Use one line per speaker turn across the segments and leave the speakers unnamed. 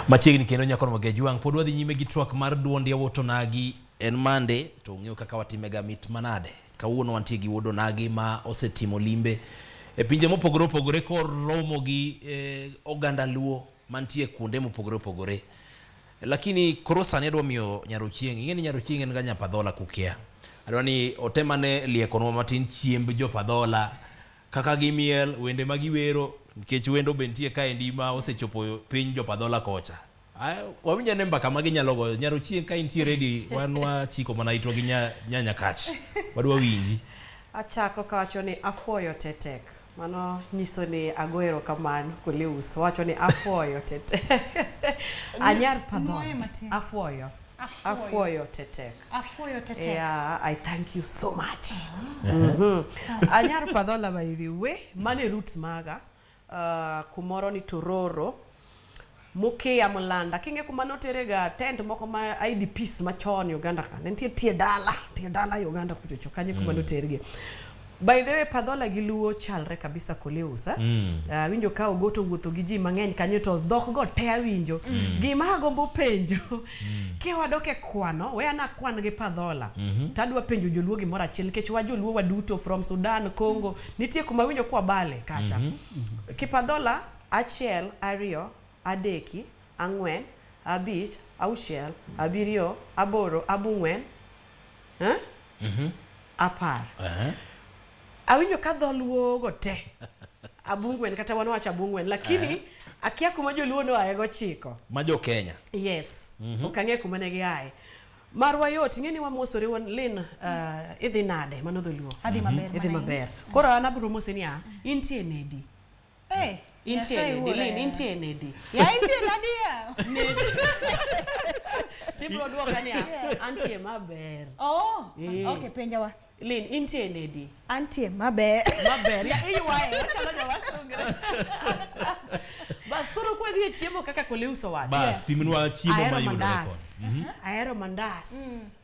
Machiegni kendo nyako no Magej Wang pod wadhi nyime gi twak mar duond yawuot Onagi en mande to ung'eyo kaka watimega mit manade. Kawuono wantie gi wuod Onagi ma osetimo limbe e pinje mopogore opogore koromo gi eh, oganda Luo mantie kuonde mopogore opogore. Lakini koro sani adwa miyo Nyarochieng, ing'e ni Nyarochieng en ga nyapadhola kukia. Adwa ni otemane liekonwa matin chiemb jopadhola kaka gi miel wende ma giwero nikech wendo be nitie kaendi ma osechopo piny jopadhola kocha Ah, wawinj ane mbaka ma ginyalo goyo nyaro chieng' ka intie redi wan wachiko mana itwa gi nya- nyanya kach wadwa winji achako
kawacho ni afuoyo tetek mano nyiso ni ago erokamano koleus wacho ni afuoyo tetek anyar Nwoye padhon matin. afuoyo afuoyo tetek Afuoyo tete.
yeah, i thank you
so much Mhm. anyar padhola by the way mane roots maga uh, kumoro ni tororo mukia mulanda kinge kuma noterega tent moko ma idps machon uganda ka ne nitie tie dala tie dala uganda kuchocho kanye kuma noterge By the way, Padhola gi Luo chalre kabisa Koleus. ah. Mm. Ah, Awinjo ka Ogoto wuotho gi ji mang'eny kanyo to dhok go te awinjo. Gima agombo penjo, kiwadok e kwano, we ana kwan gi Padhola. Mhm. To adwa penjo joluo gimoro achiel nikech wa joluo waduto from Sudan, Congo, nitie kuma awinjo kwa bale kacha. Mhm. Kipadhola achiel, ariyo, adeki, ang'wen, abich, auchiel, abiriyo, aboro, abung'wen, Eh? apar Aha. awinjo ka dholuo go te abungwen kata wan wacho abungwen lakini akia kuma joluo noaye gochiko ma jo kenya
yes
ok ang'e kuma ne giaye marwa yot ing'e ni wamosore wan lin uh, idhi nade mano dholuo Adhi maber idhi mana maber
koro
an abro mose niya intie nedi Eh, Intie Nyasaye nedi? wuora Lin, yawa. intie nedi? Ya intie nadi
ya?
Tibro dwoka niya, Yeah. antie maber. Oh, Eh.
okay, penja wa. Lin, intie nedi?
Antie maber.
Maber. Ya iwaye,
wachalo joma sungre. Bas koro kwadhi e chiemo kaka Koleuso wacho. Bas, pimnwa chiemo
Ahero mayudore mandas. koni. Mhm. Ahero
mandas.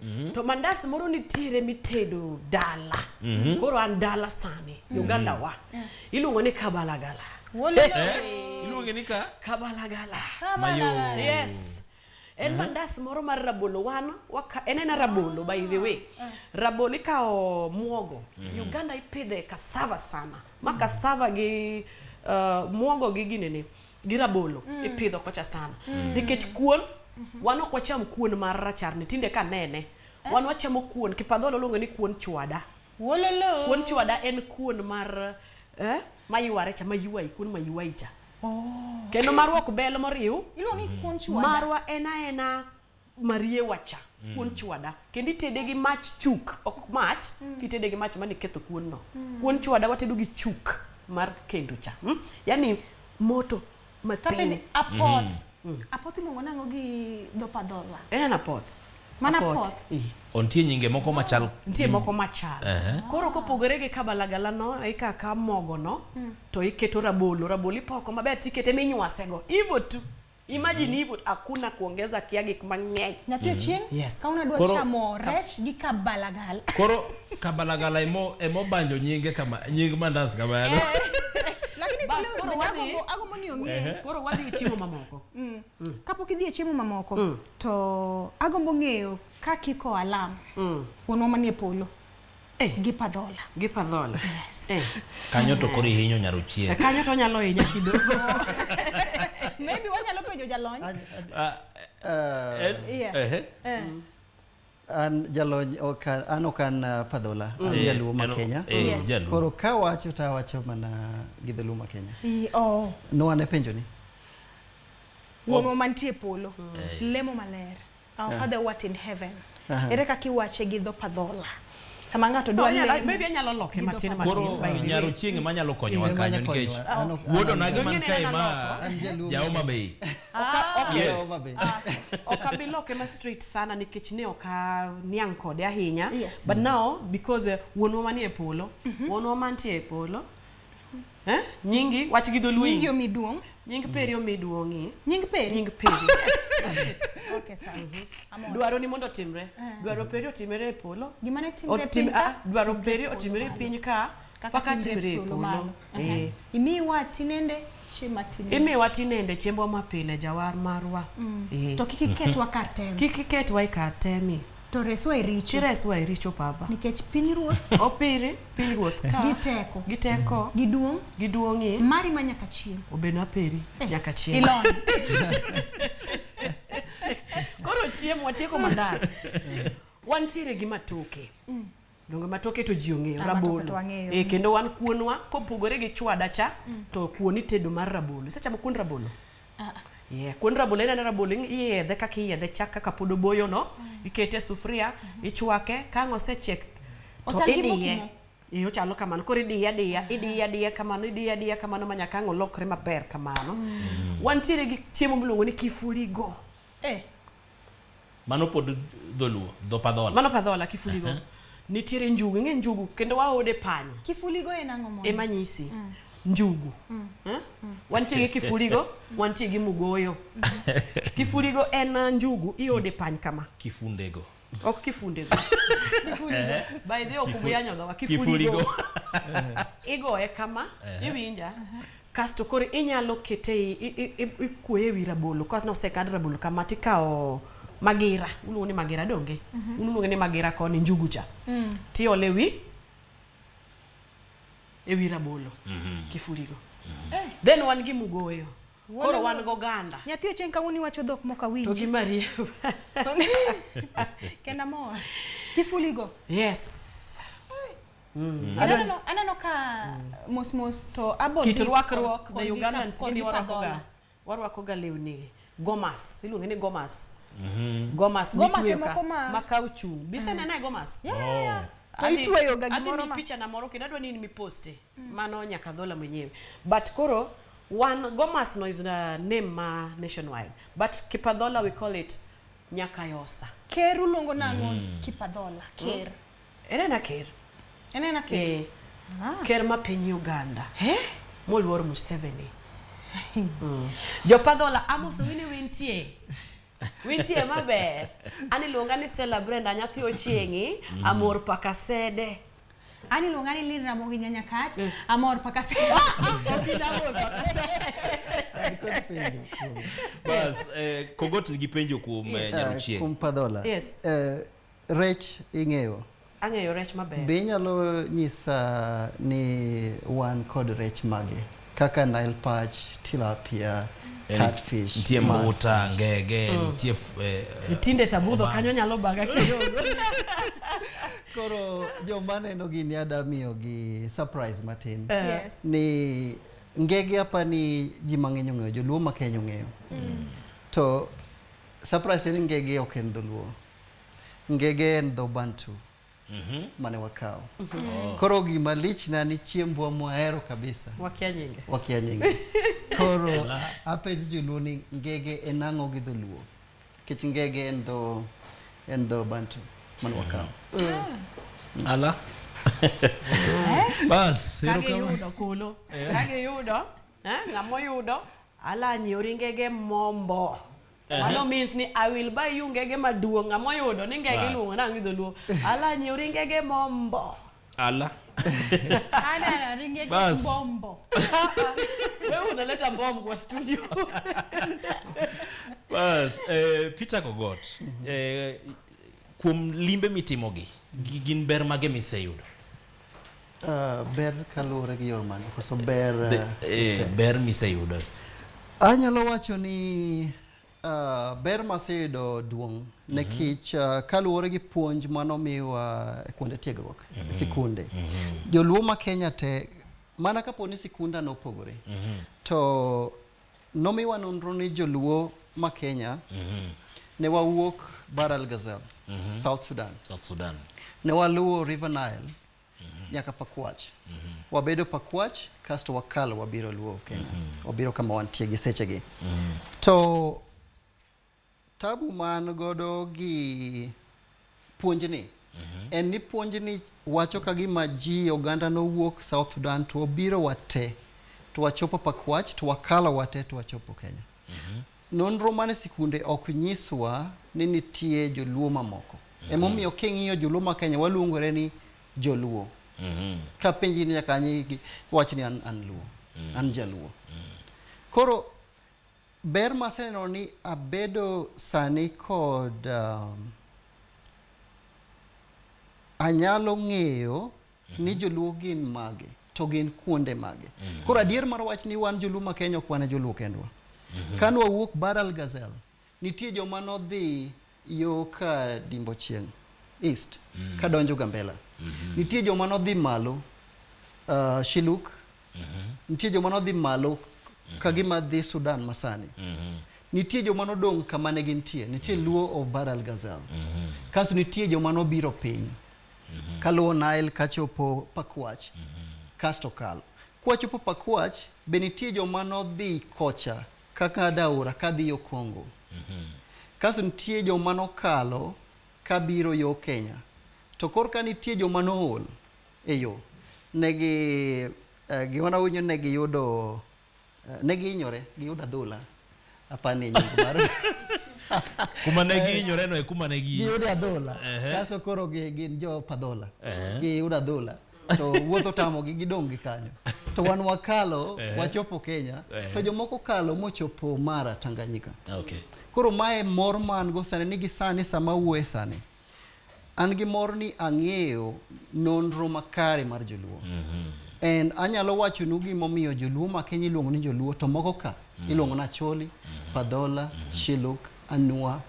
Mhm. To mandas moro nitiere mitedo dala. Mhm. Koro an dala sani, Mhm. Uganda wa. iluongo ni kabalagala
iluonge ni ka kabalagala
mayo
yes
en mandas moro mar rabolo wan waka- en ena rabolo by the way rabolo ikawo muogo uganda ipidhe kasava sana ma kasava gi uh, muogo gi ginene gi rabolo ipidho kocha sana nikech kuon wan ok wacham kuon mar racharni tinde kanene wan wachamo kuon kipadholo luonge ni kuon chwada Wololo. Kuon
chwada en
kuon mar eh, mayuare cha mayuai, kuon mayuai cha. Oh. Kendo marwa ok bel moriw. Iluongo ni kuon mm. chwada.
Marwa en aena
mariewa cha. Mm. Kuon chwada. Kendo itede gi mach chuk, ok mach, mm. kitede gi mach mane ketho kuon no. Mm. Kuon chwada watedo gi chuk mar kendo cha. Mm? Yaani moto matin apoth mm.
apoth iluongo nango gi dhopadhola en eh, apoth
mana apoth
ontie nyinge
moko machal nitie moko machal
uh -huh. koro kopogore gi kabalagala no ikaka mogo no mm. to iketo rabolo rabolo ipoko maber tikete minywase go ivo tu Imagine mm. hivyo hakuna kuongeza kiagi mang'eny. Na pia mm. chien yes.
kama unadua koro, chamo rech gi kabalagala. Koro
kabalagala emo emo banjo nyinge kama nying mandas kamano lakini
Bas, kile koro osmenya wadhi-
agombo- agombo ni ong'e
koro wadhi e chiemo
mamoko kapok idhi
e chiemo mamoko to agombo ng'eyo ka kiko alam wuonwa manie polo Eh. gi padhola gi padhola
Eh,
kanyo to koro
ihinyo nyaro eh, chieng kanyo to onyalo hinya
kidogo
maybe wanyalo penjo jalony Ah, Yeah. eh, Yeah. eh, Eh.
an jalony ok an- an ok an uh, padhola an Yes, jaluo ma an- kenya eh, Yes. jaluo. koro ka wacho to awacho mana gi dholuo ma kenya I- oh, no ane penjoni
wuonwa mantie e polo lemo maler our father what in heaven Aha. ere kaka iwache gi dho padhola sama ng'ato dwa lemo maybe anyalo loke matin
matin koro nyaro
chieng' ema nyalo konyowa kanyo nikech wuodo na gi man kae ma jaoma bei yes
ok abi loke ma straight sana nikech ne ok niang' kode ahinya but now because uh, wuonwa manie polo mhm. wuonwa mantie e polo Eh? Nyingi, wach gi dholuo. Nyingi omi duong'.
Nying peri omi
duong'i. Nying peri. Nying peri.
Yes. That's it. Okay,
sawa.
Amor. Dwaro ni mondo otimre.
Eh. Dwaro peri otimre e polo. Gima ne timre e piny
ka. Ah, dwaro peri otimre e
piny ka.
Paka
timre e polo. Eh. Imi wa
tinende
imiwa tinende chiembwa mapile jawar marwa mm. eh. to kik
iketwa mm. kar temi kik iketwa e kar
temi To reswa e richo.
Tireswa e richo Baba.
Nikech piny ruoth.
Opiri piny
ruoth ka. Gi teko. Gi teko.
Gi duong'.
Gi duong'i.
Mari ma nyaka chieng'. Obed na peri eh.
nyaka chieng'. Ilon. Koro chiemo watieko mandas. Wantiere gi matoke. Mm. donge ma toke to ji ong'eyo rabolo e, kendo wan kuonwa kopogore gi chwada cha mm. to kuon itedo mar rabolo isechamo kuon rabolo ah, ah. Yeah, kuon rabolo ineno rabolo iyedhe kaka iyedhe chak kaka pod oboyo no mm. ikete e sufuria mm-hmm. ichwake ka ang' osechiek to idiye e ochalo kamano koro idiye adiya mm. idiye adiya kamano idiye adiya kamano ma nyaka ang' olokre maber kamano mm. wantiere gi chiemo miluongo ni kifurigo eh.
Mano pod dholuo, dho padhola. Mano padhola kifuligo. Uh
-huh. Nitiere njugu, ing'e njugu kendo waode panya. Kifuligo en ang'o
mondo? Ema nyisi. Mm.
Njugu. Mm. Eh? Mm. Wantie gi kifuligo, wantie gi mugoyo. kifuligo en uh, njugu iode pany kama. Kifundego.
Ok kifundego.
kifuligo. Eh? By the way, okuyanyo gawa kifuligo. Kifuligo. Igoe kama, eh? iwinja. Uh -huh. kasto koro inyalo kete i- i- i- i- ikuoye ewi rabolo kasto nosekad rabolo kama tikawo magira uluongo ni magira donge Mhm. un uluonge ni magira koni njugu cha Mm. tiole wi ewi rabolo kifurigo Eh. then wan gi mugoyo Wuon koro wan wuon. goganda Nyathi ochieng' kawuono iwacho
dhok mok awinji. to gi marie Kenda mor. Kifuligo. yes
Mm. Aneno, aneno,
aneno ka mm. mos mos to abo kit rwakruok the
Ugandans gini warwakoga warwakoga lewni gomas iluonge ni gomas mm -hmm. gomas mitweyo ka ma kauchu bise mm. nene gomas yeah, yeah,
yeah. Oh to itweyo ga gimoro ma picha na moro kendo adwa
ni in miposte mm. mano nyaka dhola mwenyewe but koro one gomas no is a name ma nationwide but kipadhola we call it nyakayosa ker uluongo
nang'o mm. kipadhola ker mm. En en aker.
En en aker. Eh. Ah. Ker ma piny Uganda. Eh? Moluor Museveni. mm. Jopadhola Amos Owine wintie. Wintie maber. Ani luonga ni Stella Brenda nyathi ochiengi mm. amor pakasede. Ani
luonga ni Lin Ramogi nyanya kach mm. amor pakasede. Okina amor
pakasede.
Bas, eh, kogot nigi penjo kuom yes. Eh, nyaruchieng. Kuom padhola. Yes.
Eh,
Rech
ing'eyo? Ang'eyo rech
maber. Be inyalo
nyisa ni wan kod rech mage? Kaka Nile perch, tilapia, catfish. Nitie mbuta,
ngege, mm. nitie... Eh, eh, Tinde
tabudho kanyo nyalo baga kidogo. Koro
joma neno gini ada miyogi surprise matin. Eh. Yes. Ni ngege apa ni ji mang'eny ong'eyo, joluo ma Kenya ong'eyo. Mm. To surprise ni ngege ok en dholuo. Ngege en dho Bantu mane wakawo. Koro gima lichna ni chiembwa mwahero kabisa Wakia nyinge. wakia nyinge. Koro apenjo joluo ni ngege en ang'o gi dholuo? Nikech ngege en dho en dho Bantu mane wakawo.
Ala. Bas, Kage erokamano. yudo kulu.
Kage yudo. Eh, ng'amo yudo. Ala nyori ngege mombo. Mano means ni I will buy you ngege maduong' ama oyudo ni ngege Bas. iluongo nang'o gi dholuo. Ala nyiew ri ngege mombo. Ala.
Ana ringe Bas. bombo.
Wewe unaleta mbom kwa studio.
Bas, eh, Peter Kogot, eh, kuom limbe mitimogi, gi- gin ber mage miseyudo? Uh,
ber kaluwore gi yor mane koso ber uh, eh, ber
miseyudo anyalo
wacho ni uh, ber maseyudo duong' mm -hmm. nekich uh, kaluwore gi puonj manomiwa e kuonde tiegruok mm -hmm. sikunde mm -hmm. joluo ma kenya te mana kapo ni sikunda nopogore mm -hmm. to nomiwa nonro ni joluo ma kenya mm -hmm. ne wawuok bar al gazel mm -hmm. south sudan, south sudan. ne waluwo river nile nyaka pakwach wabedo pakwach kasto wakalo wabiro luo of kenya wabiro kama wantie gi sechegi to tabu man godo gi puonjni en ni puonjni wacho ka gima ji oganda nowuok south sudan to obiro wate to wachopo pakwach to wakalo wate to wachopo kenya Mhm. Nonro mane sikunde ok nyiswa ni nitie joluo mamoko. Mhm. Emomiyo king'iyo joluo ma Kenya waluongore ni joluo. Mhm. Ka penji ni nyaka anyi wach ni an, an luo. An jaluo. Koro ber maseneno ni abedo sani kod um, anyalo ng'eyo ni joluo gin mage to gin kuonde mage koro adier mar wach ni wan joluo ma kenya ok wan e joluo kendwa ka nwawuok baral gazel nitie joma nodhi yo ka dimbo chieng east ka donjo gambela nitie joma nodhi malo uh, shiluk nitie joma nodhi malo ka gima dhi sudan masani nitie joma nodong' kama ne gintie nitie luo of baral gazel kasto nitie joma nobiro piny mhm. kaluwo Nile kachopo Pakwach mhm. kasto kalo. Kwachopo Pakwach be nitie joma nodhi kocha kaka Daura kadhi yo Kongo. Mhm. Kasto nitie joma nokalo kabiro yo Kenya. To korka nitie joma nool e yo. Negi eh, gima nawinjo ne giyudo Eh, ne gihinyore giyudo adhola apani nying mar
kuma ne eh, gihinyore no e kuma ne gi giyudo adhola
kaso koro gin jo padhola giyudo adhola to wuotho tamogi gidong' gi kanyo to wan wakalo wachopo kenya to jomoko kalo mochopo mara tanganyika koro
mae
mor man go sani ni gisani sama wuoye sani An gi mor ni ang'eyo nonro makare mar joluo. Mm -hmm. And anyalo wacho nu gimomiyo joluo ma Kenya iluongo ni joluo to moko ka mm -hmm. iluongo na Choli, mm -hmm. Padhola, mm -hmm. Shiluk, Anua,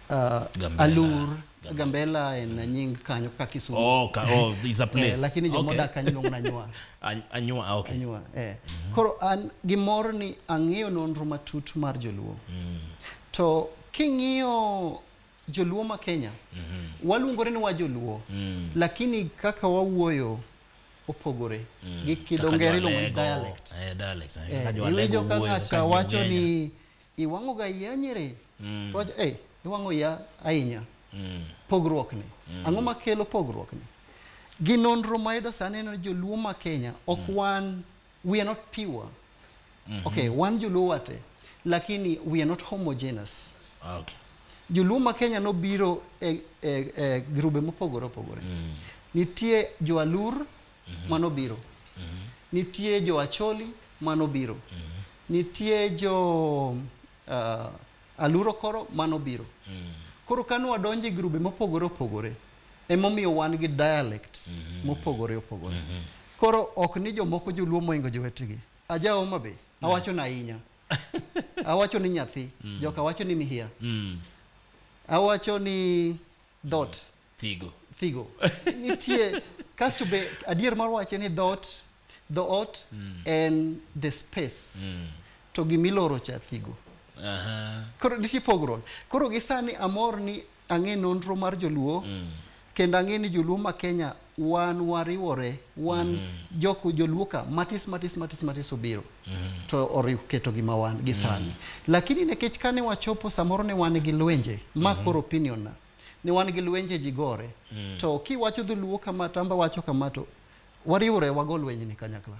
uh, Gambela. Alur, Gambela and mm. nying kanyo ka Kisumu. Oh, ka, oh, is a eh,
place. eh, lakini jomo okay. dak kanyo
na Anyua. Anyua, ah, okay.
Anyua, eh. Mm -hmm.
Koro an gimor ni ang'eyo nonro matut mar joluo. Mm. To king'iyo joluo ma kenya waluongore ni wa joluo lakini kaka wawuoyo opogore gi kidho ngere iluongo ni dialect Eh, dialect. eh. Eh, Kaka jo
Alego iwinjo ka wuoyo,
ng'acha kaka jo wacho Kenya. ni iwang'oga iya nyiri to wacho "Ei, iwang'o iya ahinya Mm. pogruokni ang'o makelo pogruokni gi nonro mayudo sani en ni joluo ma kenya ok wan We are not pure. Mm -hmm. Okay, one Joluo wate, lakini we are not homogeneous. Okay.
Joluo ma
Kenya nobiro e, e, e grube mopogore opogore. Mm. Nitie Joalur mm -hmm. manobiro. Mm -hmm. Nitie Joacholi manobiro. Mm -hmm. Nitie jo uh, Aluro koro mano biro. Mm. Koro kane wadonjo e grube mopogore opogore, emomiyo wan gi dialects mm -hmm. mopogore opogore. Mm -hmm. Koro ok ni jomoko joluo moingo jowetegi. Aja Homa Bay, mm. awacho na ahinya. awacho ni nyathi, mm. joka wacho ni mihia. Mm. Awacho ni dot. Mm. thigo thigo nitie kasto be adier mar wache ni dhoot dhoot mm. en the space mm. to gimiloro cha thigo uh -huh. koro nitie pogruok koro gisani amor ni ang'e nonro mar joluo mm. kendo ang'e ni joluo ma kenya wan wariwore wan mm -hmm. jok joluo ka matis matis matis matis obiro mm -hmm. to oriw keto gima wan gisani mm -hmm. lakini nekech kane wachopo samoro ne wan gi lwenje ma mm -hmm. koro opinion na mm -hmm. ni wan gi lwenje ji gore mm. to kiwacho dholuo kama tamba wacho kama to wariwore wago lwenje ni kanyakla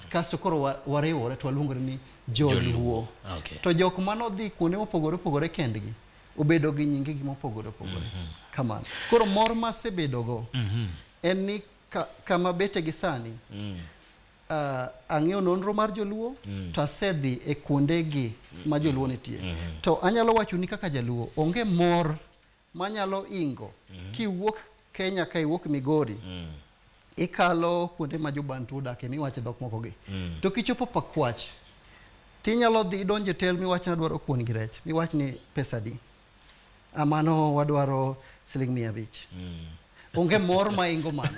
kasto koro wariwore to waluongore ni joluo okay. to jok
mano dhi
kuonde mopogore opogore kendgi obedo gi nyinge gi mopogore opogore mm -hmm. kamano koro mor masebedogo mm -hmm. en ni ka, kama bete gi sani mm. uh, ang'eyo nonro mar joluo mm. to asedhi e kuondegi mm. ma joluo nitie mm -hmm. to anyalo wachoni kaka jaluo onge mor manyalo ingo mm -hmm. kiwuok kenya ka iwuok migori mm. ikalo kuonde ma jobantu odake miwache dhok mokogi mm. to kichopo pakwach tinyalo dhi idonje tel miwach nadwaro kuon gi rech miwach ni pesadi A mano wadwaro siling mia abich. Onge mor ma ingo mano.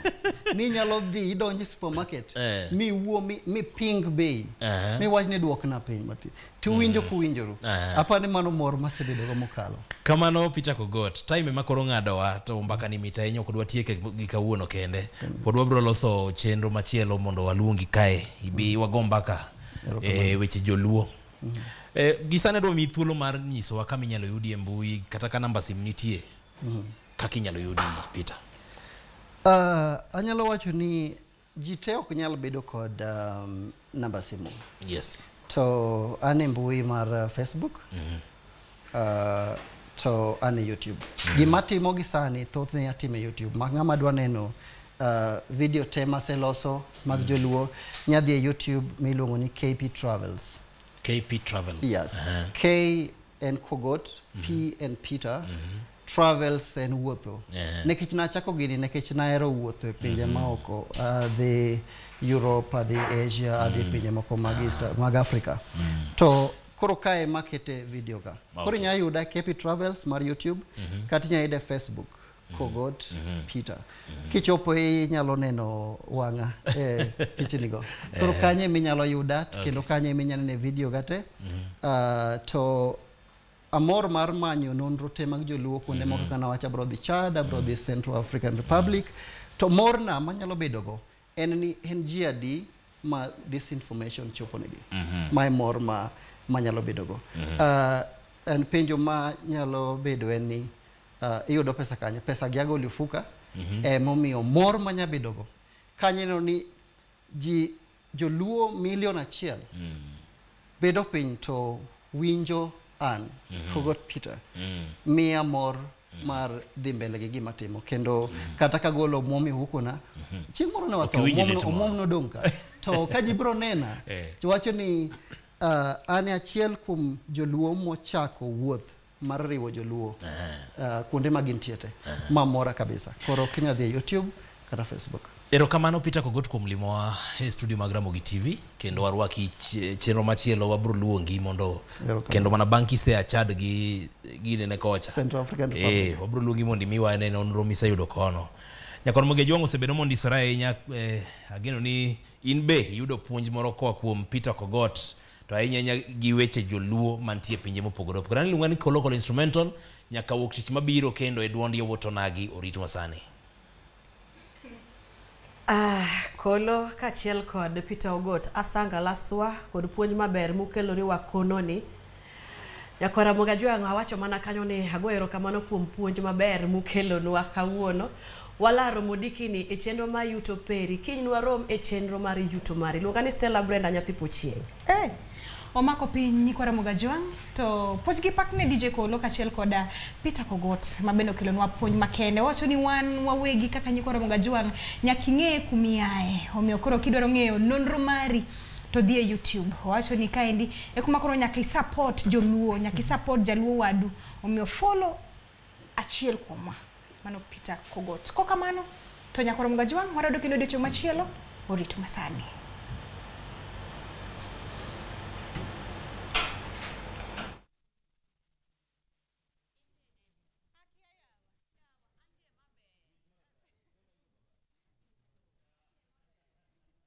Ni nyalo dhi idonj e supermarket Eh. mi wuo mi, mi ping bei. Aha. Mi wach ni duokna piny mati. To winjo kuwinjoru. Aha. Apani mano mor masebedo go mokalo. kamano peter
kogot time ema koro ng'adowa to mbaka ni mit ahinya ok dwa tieke gi kawuono kende pod wabiro loso chenro machielo mondo waluongi kae ibi wago mbaka e weche joluo Eh, gisane dwa mi thuolo mar nyisowa kama inyalo yudi e mbui kata ka namba sim nitie kaka inyalo yudi peter Ah, anyalo
wacho ni ji te ok nyal bedo kod um, namba simu yes to
an
e mbui mar uh, facebook Uh, to an e YouTube. Mm. Gima timo gi sani thothne atime YouTube. Ma ng'ama dwa neno uh, video te maseloso mag mm. joluo nyadhi e YouTube miluongo ni KP Travels. KP
Travels. Yes. Uh -huh.
K en Kogot, mm -hmm. P en Peter, mm -hmm. travels en wuotho yeah. nekech nachako gini nekech nahero wuotho e pinje mm -hmm. maoko adhi uh, europe adhi asia mm. adhi pinje moko mag, East, ah. mag africa mm. to koro kae makete video ka okay. koro inyalo yuda kepi travels mar youtube mm -hmm. kata inyalo yude facebook mhm. kogot mm -hmm. peter mm -hmm. kichopo inyalo neno wang'a e pichnigo koro eh. kanye minyalo yuda okay. kendo kanye minyalo nene video gate mm -hmm. uh, ah, to amor mar manyo nonro te mag joluo kuonde moko kaka nawacho abro dhi chad abro dhi central african republic to morna manyalo bedogo en ni en ji adi ma this information choponegi mae mor ma manyalo bedogo Ah, en penjo ma nyalo bedo en ni ah, iyudo pesa kanye pesa gi agoli ofuka emomiyo mor manya bedogo kanye neno ni ji Joluo million achiel mm. bedo piny to winjo an mm -hmm. Hugot Peter mm. miya mor mm. mar dhi mbele gi gima timo kendo mm -hmm. kata kagolo omwom e hukuna mm -hmm. chieng' moro ne watho omwom nodong' ka to ka ji biro nena eh. wacho ni uh, an e achiel kuom joluo mochako wuoth mar riwo joluo uh, kuonde ma gintie te ma mora kabisa koro kinya dhi e youtube kata facebook erokamano peter
kogot kuom limowa e studio mag ramogi tv kendo warwaki ch- chenro machielo wabiro luongi mondo Erokamano. kendo mana bang' kisea chad gi ginene kocha Central African Republic. Eh,
wabiro luongi mondo imiwa
ane nonro miseyudo kono nyakon moge jwang' osebedo mondisore ahinya eh, ageno ni in be iyudo puonj moro koa kuom peter kogot to ahinya ahinya gi weche joluo mantie pinje mopogore opogore an iluonga ni kolokolo instrumental nyaka wuok tich mabiro kendo e duond yowuot onagi orit masani
Ah, kolo kachiel kod peter ogot asanga laswa kod puonj maber mukeloriwa kononi nyakwara mogajwang'o awacho mana kanyo ni ago erokamano kuom puonj maber mukelonwa kawuono Walaro modikini e chenro ma yuto peri. Kiny nwarom e chenro mar yuto mari. Luonga ni Stella Brenda nyathi Pochieng'. Hey. Eh,
omako piny nyikwa Ramoga Jwang' to puonj gi pak ne DJ Kolo kachiel koda Peter Kogot ma bende okelonwa puonj makende. Owacho ni wan wawegi kaka nyikwa Ramoga Jwang' nyaka ing'e kumiaye. Omiyo koro kidwaro ng'eyo nonro mari to dhi e YouTube. Owacho ni kaendi e kuma koro nyaka isupport joluo, nyaka isupport jaluo wadu. Omiyo follow achiel kuomwa mano peter kogot ko kamano to nyakoro mgajwang' warado kendo odiochieng' machielo orit masani